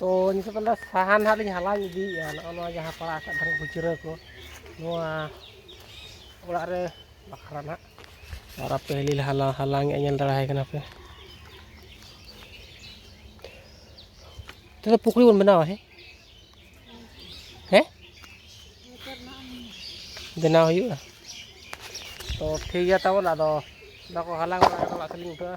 ᱛᱚ ᱱᱤᱛᱚᱜ ᱫᱚ ᱥᱟᱦᱟᱱ ᱱᱟᱦᱟᱜ ᱞᱤᱧ ᱦᱟᱞᱟᱝ ᱤᱫᱤᱭᱮᱜᱼᱟ ᱱᱚᱜᱼᱚ ᱱᱚᱣᱟ ᱡᱟᱦᱟᱸ ᱯᱟᱲᱟᱜ ᱟᱠᱟᱫ ᱛᱟᱦᱮᱱ ᱠᱷᱩᱪᱨᱟᱹ ᱠᱚ ᱱᱚᱣᱟ ᱚᱲᱟᱜ ᱨᱮ ᱵᱟᱠᱷᱨᱟ ᱱᱟᱦᱟᱜ ᱟᱨ ᱟᱯᱮ ᱦᱤᱞᱤ ᱞᱮ ᱦᱟᱞᱟᱝ ᱦᱟᱞᱟᱝᱮᱜᱼᱟ ᱧᱮᱞ ᱫᱟᱲᱮᱭᱟᱭ ᱠᱟᱱᱟ ᱯᱮ ᱛᱚᱵᱮ ᱯᱩᱠᱷᱨᱤ ᱵᱚᱱ ᱵᱮᱱᱟᱣᱟ ᱦᱮᱸ ᱦᱮᱸ ᱵᱮᱱᱟᱣ ᱦᱩᱭᱩᱜᱼᱟ ᱛᱚ ᱴᱷᱤᱠ ᱜᱮᱭᱟ ᱛᱟᱵᱚᱱ ᱟᱫᱚ ᱚᱱᱟ ᱠᱚ ᱦᱟᱞᱟᱝ ᱵᱟᱲᱟ ᱠᱟᱛᱮᱫ ᱚᱲᱟᱜ ᱥᱮᱫ ᱞᱤᱧ ᱩᱴᱷᱟᱹᱜᱼᱟ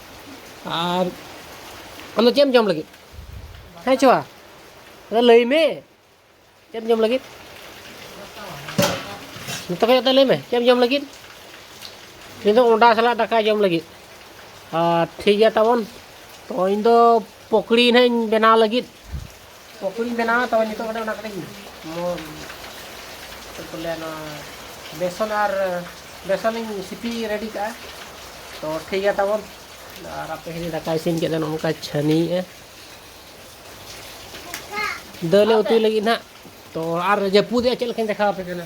ᱟᱨ ᱟᱢᱫᱚ ᱪᱮᱫ ᱮᱢ ᱡᱚᱢ ᱞᱟᱹᱜᱤᱫ ᱦᱮᱸ ᱪᱚᱣᱟ ᱟᱫᱚ ᱞᱟᱹᱭ ᱢᱮ ᱪᱮᱫ ᱮᱢ ᱡᱚᱢ ᱞᱟᱹᱜᱤᱫ ᱡᱚᱛᱚ ᱠᱷᱚᱡ ᱞᱟᱹᱭ ᱢᱮ ᱪᱮᱫ ᱮᱢ ᱡᱚᱢ ᱞᱟᱹᱜᱤᱫ ᱤᱧ ᱫᱚ ᱚᱸᱰᱟ ᱥᱟᱞᱟᱜ ᱫᱟᱠᱟ ᱡᱚᱢ ᱞᱟᱹᱜᱤᱫ ᱟᱨ ᱴᱷᱤᱠ ᱜᱮᱭᱟ ᱛᱟᱵᱚᱱ ᱛᱚ ᱤᱧ ᱫᱚ ᱯᱚᱠᱲᱤ ᱦᱟᱸᱜ ᱤᱧ ᱵᱮᱱᱟᱣ ᱞᱟᱹᱜᱤᱫ ᱯᱚᱠᱚᱲᱤᱧ ᱵᱮᱱᱟᱣᱟ ᱛᱚᱵᱮ ᱱᱤᱛᱚᱜ ᱠᱟᱹᱴᱤᱡ ᱚᱱᱟ ᱠᱟᱹᱴᱤᱡ ᱪᱮᱫ ᱠᱚ ᱞᱟᱹᱭᱟ ᱱᱚᱣᱟ ᱵᱮᱥᱚᱱ ᱟᱨ ᱵᱮᱥᱚᱱᱤᱧ ᱥᱤᱯᱤ ᱨᱮᱰᱤ ᱠᱟᱜᱼᱟ ᱛᱚ ᱴᱷᱤᱠ ᱜᱮᱭᱟ ᱛᱟᱵᱚᱱ ᱟᱨ ᱟᱯᱮ ᱦᱤᱡᱩᱜ ᱫᱟᱠᱟ ᱤᱥᱤᱱ ᱠᱮᱫᱟ ᱱᱚᱝᱠᱟ ᱪᱷᱟᱹᱱᱤᱭᱮᱜᱼᱟ ᱫᱟᱹᱞᱮ ᱩᱛᱩᱭ ᱞᱟᱹᱜᱤᱫ ᱱᱟᱜ ᱛᱚ ᱟᱨ ᱡᱟᱹᱯᱩᱫᱮᱜᱼᱟ ᱪᱮᱫ ᱞᱮᱠᱟᱧ ᱫᱮᱠᱷᱟᱣ ᱟᱯᱮ ᱠᱟᱱᱟ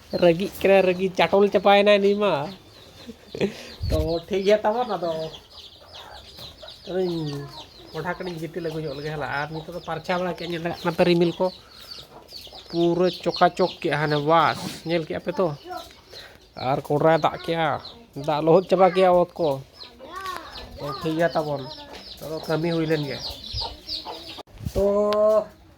ᱨᱟᱹᱜᱤᱜ ᱠᱟᱱᱟᱭ ᱨᱟᱹᱜᱤ ᱪᱟᱴᱚᱞ ᱪᱟᱵᱟᱭᱮᱱᱟᱭ ᱱᱩᱭ ᱢᱟ ᱛᱚ ᱴᱷᱤᱠ ᱜᱮᱭᱟ ᱛᱟᱵᱚᱱ ᱟᱫᱚ ᱟᱫᱚᱧ ᱠᱚᱰᱷᱟ ᱠᱟᱹᱴᱤᱡ ᱜᱤᱛᱤᱞ ᱟᱹᱜᱩ ᱧᱚᱜ ᱞᱮᱜᱮ ᱦᱮᱞᱟ ᱟᱨ ᱱᱤᱛᱚᱜ ᱫᱚ ᱯᱟᱨᱪᱷᱟ ᱵᱟᱲᱟ ᱠᱮᱫ ᱧᱮᱞ ᱧᱟᱢᱚᱜ ᱠᱟᱱᱟ ᱯᱮ ᱨᱤᱢᱤᱞ ᱠᱚ ᱯᱩᱨᱟᱹ ᱪᱚᱠᱟᱪᱚᱠ ᱠᱮᱜᱼᱟ ᱦᱟᱱᱮ ᱵᱟᱥ ᱧᱮᱞ ᱠᱮᱜᱼᱟ ᱯᱮ ᱛᱚ ᱟᱨ ᱠᱚᱰᱨᱟᱭ ᱫᱟᱜ ᱠᱮᱜᱼᱟ ᱫᱟᱜ ᱞᱚᱦᱚᱫ ᱪᱟᱵᱟ ᱠᱮᱜᱼᱟ ᱚᱛ ᱠᱚ ᱛᱚ ᱴᱷᱤᱠ ᱜᱮᱭᱟ ᱛᱟᱵᱚᱱ ᱛᱚ ᱠᱟᱹᱢᱤ ᱦᱩᱭ ᱞᱮᱱ ᱜᱮ ᱛᱚ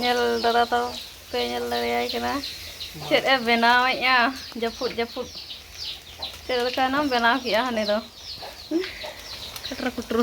ᱧᱮᱞ ᱫᱟᱫᱟ ᱛᱚ ᱯᱮ ᱧᱮᱞ ᱫᱟᱲᱮᱭᱟᱭ ᱠᱟᱱᱟ ᱪᱮᱫ ᱮ ᱵᱮᱱᱟᱣᱮᱫᱼᱟ ᱡᱟᱹᱯᱩᱫ ᱡᱟᱹᱯᱩᱫ ᱪᱮᱫ ᱞᱮᱠᱟᱱᱟᱢ ᱵᱮᱱᱟᱣ ᱠᱮᱫᱼᱟ ᱦᱟᱱᱮ ᱫᱚ ᱠᱷᱟᱴᱨᱟ ᱠᱷᱩᱴᱨᱩ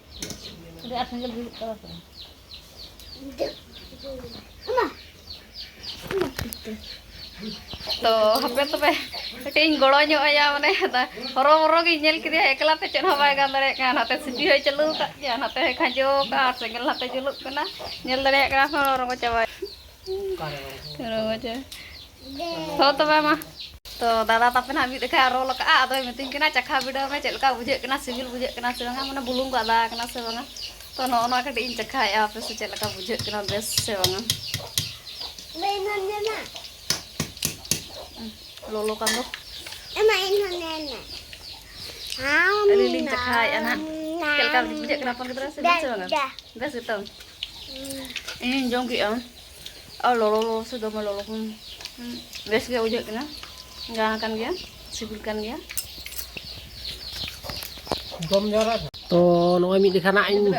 ᱛᱚ ᱦᱟᱯᱮ ᱛᱚᱵᱮ ᱠᱟᱹᱴᱤᱡ ᱤᱧ ᱜᱚᱲᱚ ᱧᱚᱜ ᱟᱭᱟ ᱢᱟᱱᱮ ᱦᱚᱨᱚ ᱵᱚᱨᱚ ᱜᱤᱧ ᱧᱮᱞ ᱠᱮᱫᱮᱭᱟ ᱮᱠᱞᱟ ᱛᱮ ᱪᱮᱫ ᱦᱚᱸ ᱵᱟᱭ ᱜᱟᱱ ᱫᱟᱲᱮᱭᱟᱜ ᱠᱟᱱᱟ ᱱᱟᱛᱮ ᱥᱤᱯᱤ ᱦᱚᱸᱭ ᱪᱟᱹᱞᱩ ᱟᱠᱟᱫ ᱜᱮᱭᱟ ᱱᱟᱛᱮ ᱦᱚᱸᱭ ᱠᱷᱟᱸᱡᱚ ᱟᱠᱟᱫᱼᱟ ᱥᱮᱸᱜᱮᱞ ᱱᱟᱛᱮ ᱡᱩᱞᱩᱜ ᱠᱟᱱᱟ ᱧᱮᱞ ᱫᱟᱲᱮᱭᱟᱜ ᱠᱟᱱᱟ ᱦᱚᱸ ᱨᱚᱸᱜᱚ ᱪᱟᱵᱟᱭᱮᱱᱟ ᱛᱚ ᱫᱟᱫᱟ ᱛᱟᱯᱮ ᱱᱟᱜ ᱢᱤᱫ ᱞᱮᱠᱷᱟᱭ ᱨᱳᱞ ᱟᱠᱟᱫᱼᱟ ᱟᱫᱚᱭ ᱢᱤᱛᱟᱹᱧ ᱠᱟᱱᱟ ᱪᱟᱠᱷᱟ ᱵᱤᱰᱟᱹᱣ ᱢᱮ ᱪᱮᱫ ᱞᱮᱠᱟ ᱵᱩᱡᱷᱟᱹᱜ ᱠᱟᱱᱟ ᱥᱤᱵᱤᱞ ᱵᱩᱡᱷᱟᱹᱜ ᱠᱟᱱᱟ ᱥᱮ ᱵᱟᱝᱟ ᱢᱟᱱᱮ ᱵᱩᱞᱩᱝ ᱠᱚ ᱟᱫᱟ ᱟᱠᱟᱱᱟ ᱥᱮ ᱵᱟᱝᱟ ᱛᱚ ᱱᱚᱜᱼᱚ ᱱᱚᱣᱟ ᱠᱟᱹᱴᱤᱡ ᱤᱧ ᱪᱟᱠᱷᱟᱭᱮᱫᱼᱟ ᱟᱯᱮ ᱥᱮ ᱪᱮᱫ ᱞᱮᱠᱟ ᱵᱩᱡᱷᱟᱹᱜ ᱠᱟᱱᱟ ᱵᱮᱥ ᱥᱮ ᱵᱟᱝᱟ ᱞᱚᱞᱚ ᱠᱟᱱ ᱫᱚ ᱟᱹᱞᱤᱧ ᱞᱤᱧ ᱪᱟᱠᱷᱟᱭᱮᱫᱼᱟ ᱱᱟᱜ ᱪᱮᱫ ᱞᱮᱠᱟ ᱵᱩᱡᱷᱟᱹᱜ ᱠᱟᱱᱟ ᱦᱚᱯᱚᱱ ᱜᱤᱫᱽᱨᱟᱹ ᱥᱤᱵᱤᱞ ᱥᱮ ᱵᱟᱝᱟ ᱵᱮᱥ ᱜᱮᱛᱚ ᱤᱧᱤᱧ ᱡᱚᱢ ᱠᱮᱫᱼᱟ ᱟᱨ ᱞᱚᱞᱚ ᱞᱚᱞᱚ ᱥᱮ ᱫᱚᱢᱮ ᱞᱚᱞᱚ ᱠᱷᱚᱱ ᱵᱮᱥ ᱜᱮ ᱵᱩᱡᱷᱟᱹᱜ ᱠᱟᱱᱟ ᱜᱟᱱ ᱠᱟᱱ ᱜᱮᱭᱟ ᱥᱤᱵᱤᱞ ᱠᱟᱱ ᱜᱮᱭᱟ ᱡᱚᱢ ᱡᱟᱣᱨᱟ ᱛᱚ ᱱᱚᱜᱼᱚᱭ ᱢᱤᱫ ᱞᱮᱠᱷᱟ ᱱᱟᱜ ᱤᱧ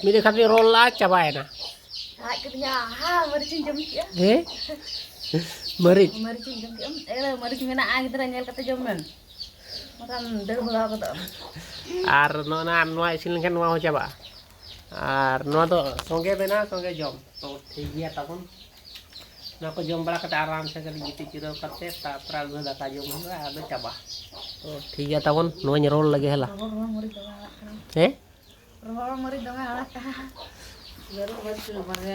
ᱢᱤᱫ ᱞᱮᱠᱷᱟ ᱛᱮᱧ ᱨᱚᱞ ᱞᱟᱜᱼᱟ ᱪᱟᱵᱟᱭᱮᱱᱟ ᱞᱟᱡ ᱠᱮᱫᱤᱧᱟ ᱦᱟ ᱢᱟᱹᱨᱤᱪᱤᱧ ᱡᱚᱢ ᱠᱮᱫᱼᱟ ᱦᱮᱸ ᱢᱟᱹᱨᱤᱪ ᱢᱟᱹᱨᱤᱪᱤᱧ ᱡᱚᱢ ᱠᱮᱫᱼᱟ ᱮ ᱢᱟᱹᱨᱤᱪ ᱢᱮᱱᱟᱜᱼᱟ ᱜᱤᱫᱽᱨᱟᱹ ᱧᱮᱞ ᱠᱟᱛᱮ ᱡᱚᱢ ᱢᱮ ᱵᱟᱠᱷᱟᱱ ᱫᱟᱹᱲ ᱵᱷᱟᱜᱟᱣ ᱜᱚᱫᱚᱜᱼᱟ ᱟᱨ ᱱᱚᱜᱼᱚ ᱱᱚᱣᱟ ᱤᱥᱤᱱ ᱞᱮᱱᱠᱷᱟᱱ ᱱᱚᱣᱟ ᱦᱚᱸ ᱪᱟᱵᱟᱜᱼᱟ ᱟᱨ ᱱᱚᱣᱟ ᱫᱚ ᱥᱚᱸᱜᱮ ᱵᱮᱱᱟᱣ ᱥᱚᱸᱜᱮ ᱡᱚᱢ ᱛᱚ ᱴᱷᱤᱠ ᱜᱮᱭᱟ ᱛᱟᱵᱚᱱ ᱱᱚᱣᱟ ᱠᱚ ᱡᱚᱢ ᱵᱟᱲᱟ ᱠᱟᱛᱮ ᱟᱨᱟᱢ ᱥᱮ ᱠᱟᱹᱴᱤᱡ ᱜᱤᱛᱤᱡ ᱡᱤᱨᱟᱹᱣ ᱠᱟᱛᱮ ᱛᱟᱨᱯᱚᱨᱮ ᱟᱹᱜᱩ ᱫᱟᱠᱟ ᱡᱚᱢ ᱦᱩᱭᱩᱜᱼᱟ ᱟᱫᱚ ᱪᱟᱵᱟ ᱛᱚ ᱴᱷᱤᱠ ᱜᱮᱭᱟ ᱛᱟᱵᱚᱱ ᱱᱚᱣᱟᱧ ᱨᱚᱲ ᱞᱮᱜᱮ ᱦᱮᱞᱟ ᱦᱮᱸ ᱨᱚᱦᱚᱲ ᱢᱟᱹᱨᱤᱪ ᱫᱚᱢᱮ ᱟᱲᱟᱜ ᱠᱟᱜᱼᱟ ᱡᱟᱹᱨᱩᱲ ᱢᱟᱹᱨᱤᱪ ᱫᱚ ᱵᱟᱨᱭᱟ